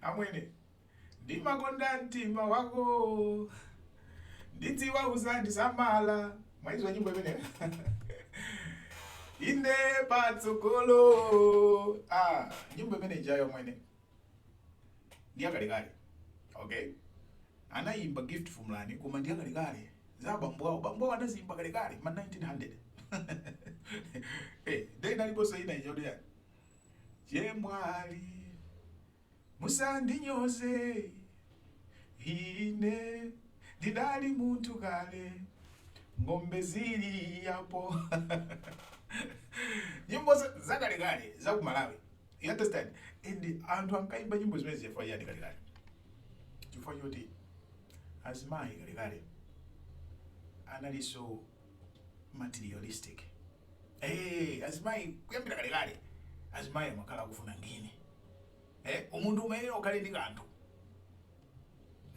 Amwene ndimakonda mtima wakoo Ndidziwa uzandisamala Mwaidziwa nyimbo imeneyo Inde patsogolo ah, nyimbo imene ijayo mwene ndiyakalekale okay anayimba gift fumlani koma ndiyakalekale za bambo awo bambo awo ankaziyimba kalekale ma 1900 eh hey, dai naliponso ina ijayo chemwali musandinyoze ine ndidali munthu kale ng'ombe zili yapo nyimbo za- zakalekale za ku malawi you understand and anthu ankayimba nyimbo zimenezi chifukwa chiyani kalekale chifukwa choti azimayi kalekale analinso materialistic eh azimayi kuyambira kale kale azimayi amakhala akufuna ngini eh munthu umayenera ukhale ndi kanthu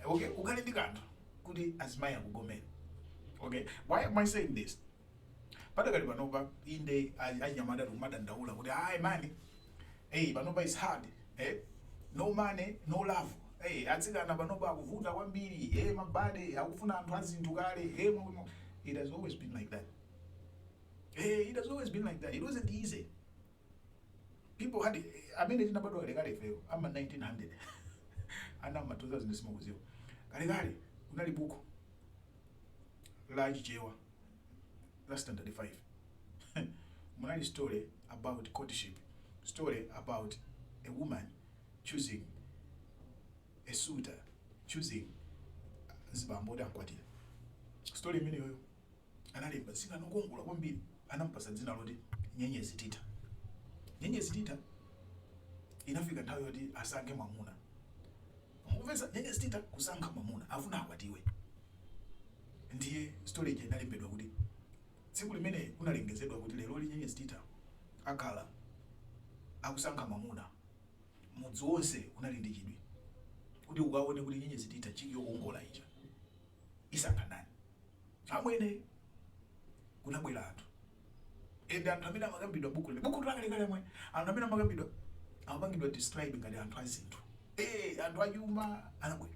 Eh, okay ukhale ndi kanthu kuti azimayi akugomere okay why am i saying this padakali panopa inde anyamata tikumadandaula kuti ayi mani Hey panopa it's hard eh? no money no love hey, atsikana panopa akuvuta kwambiri hey, mabade akufuna anthu azinthu kale hey, it has always been like that hey, it has always been like that it wasn't easy people had amene tinabadwa kalekale ifeyo ama 1900 ana ama 2000 simukuziwa kalekale kunali buku la chichewa la standard 5 munali story about courtship, story about a woman choosing a suitor, choosing mzibambo woti amkwatire. Story imeneyoyo analemba mtsikana wokongola kwambiri, anamupatsa dzina loti Nyenyezi Titha. Nyenyezi Titha inafika nthawi yoti asankhe mwamuna. Mukupeza? Nyenyezi titha kusankha mwamuna afuna akwatiwe ndiye story ija inalembedwa kuti tsiku limene kunalengezedwa kuti leroli nyenyezi titha akhala akusankha mwamuna mudzi wonse unali ndi chidwi kuti ukaone kuti nyenyezi titha chiki yokongola ija isankha ndani? Amwene, kunabwera anthu and anthu amene amakambidwa m'buku la buku lakalekale mwe anthu amene amakambidwa amapangidwa describe ngati anthu azinthu eh anthu achuma anabwera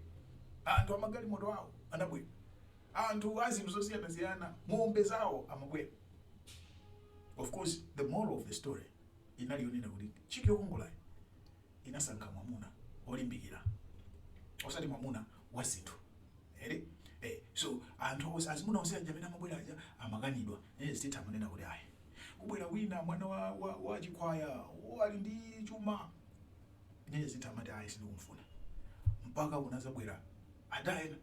anthu amagalimoto awo anabwera anthu azinthu zosiyana siyana ng'ombe zawo amabwera of course the moral of the story inali yonena kuti chiki yokongolayo inasankha mwamuna olimbikila osati mwamuna wa zinthu eti eh so anthu onse azimuna onse aja amene amabwera aja amakanidwa Nyenyezi Tita amanena kuti ayi kubwera wina mwana wa, wa, wa chikhwaya wo ali ndi chuma Nyenyezi Tita amati ayi sindikumfuna mpaka kunazabwera ada ena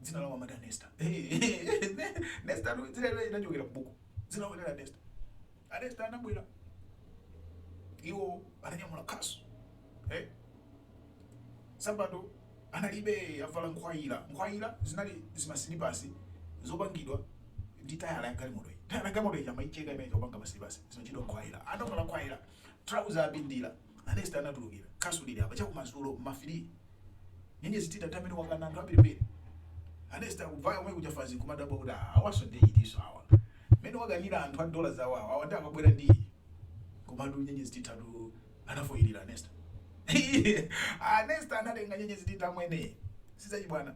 Dzina lawo amati a Nesta. Nesta anu dzina ili linachokera m'buku. Dzina lawo linali a Nesta. A Nesta anabwera. Iwo ananyamula khasu. Eh? Nsapato analibe avala nkhwayira. Nkhwayira zinali zimasilipasi zopangidwa ndi tayala ya galimoto iyi. Tayala ya galimoto iyi amaicheka imene chopanga masilipasi. Zimatchedwa nkhwayira. Anavala nkhwayira. Trouser apindira. A Nesta anatulukira khasu lili apa chakumadzulo ma 3 nyenyezi tita tamene wakana anthu ambirimbiri A Nesta akuvaya omwe kuja fanzi kumadabwa kuti "Ah, awaso ndi atiso awa mmene wakanira anthu a dola zawo awa awa ndi akabwera ndi iyi komatu nyenyezi titatu anafoyirira a Nesta a Nesta anatenga nyenyezi tita mwene sizachibwana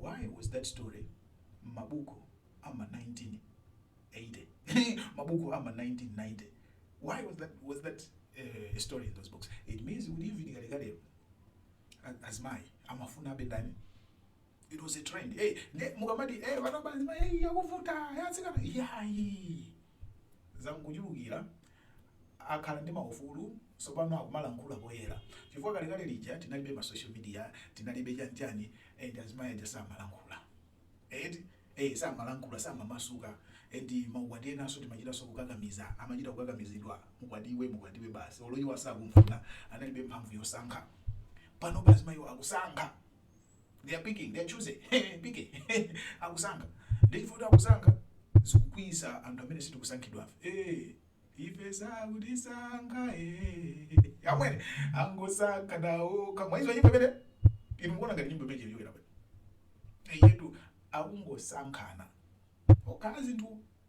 why was that story mabuku ama 1980 mabuku ama 1990 why was that, was that uh, story in those books it means kuti even kalekale a- azimayi amafuna a Bin Laden it was a trend hey, ne, mukamati hey, vanava azimayi hey, yakuvuta hey, atsikana yayi Zangochulukira kuti akhala ndi maufulu sopano akumalankhula poyera chifukwa kalekale lija tinalibe ma social media tinalibe chani chani and azimayi aja samalankhula eti ee samalankhula samamasuka and maukwati enaso timachitaso kukakamiza amachita kukakamizidwa mukwatiwe mukwatiwe basi olo iwo asakumfuna analibe mphamvu yosankha panopa azimayiwo akusankha they are picking they are choosing pike akusankha ndi chifukwa akusankha zikukwiyitsa anthu amene sitikusankhidwafe eh ife sakutisankha eh amwene angosankhana okha mwaizo nyimbo pete inu mukuona ngati nyimbo pete iliyowera pete iyetu akungosankhana okhala nzinthu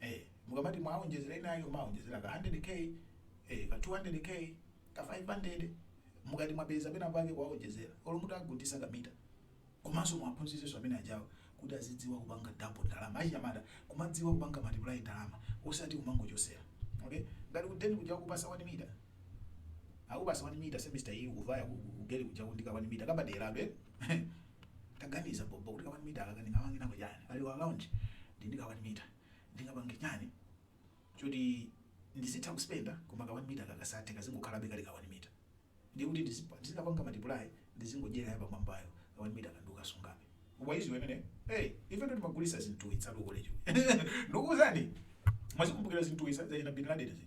eh mukamati mwaonjezera inayo maonjezera ka 100k eh ka 200k ka 500 mukati mwapeza pena pake kwaonjezera olo muti ugunditsa kamita komanso muwaphunzitsenso amwene ajawo kuti azidziwa kupanga double ndalama achinyamata kumadziwa kupanga multiply ndalama osati kumangochotsera okay ngati kudeni kuja kupasa 1 mita akupasa 1 mita semester iyi kuvaya kugeli kuja uli ndi ka 1 mita kabaderado eh Taganiza bhobho kuti ka 1 metre aka ndingapange nako chani? Pa allowance ndili ndi ka 1 metre ndingapange chani choti ndizitha kuspenda koma ka 1 metre aka kasathe kazingokhalabe kali ka 1 metre? Ndiye kuti ndizikapanga multiply ndizingodyera ya pamwambayo ka 1 metre ko ndikukasungabe. Wayiziwa imeneyo? Hey ifetu timagulitsa zinthu izi ku college ndukuwuzani mwazikumbukira zinthu izi zachina Bin Laden zija?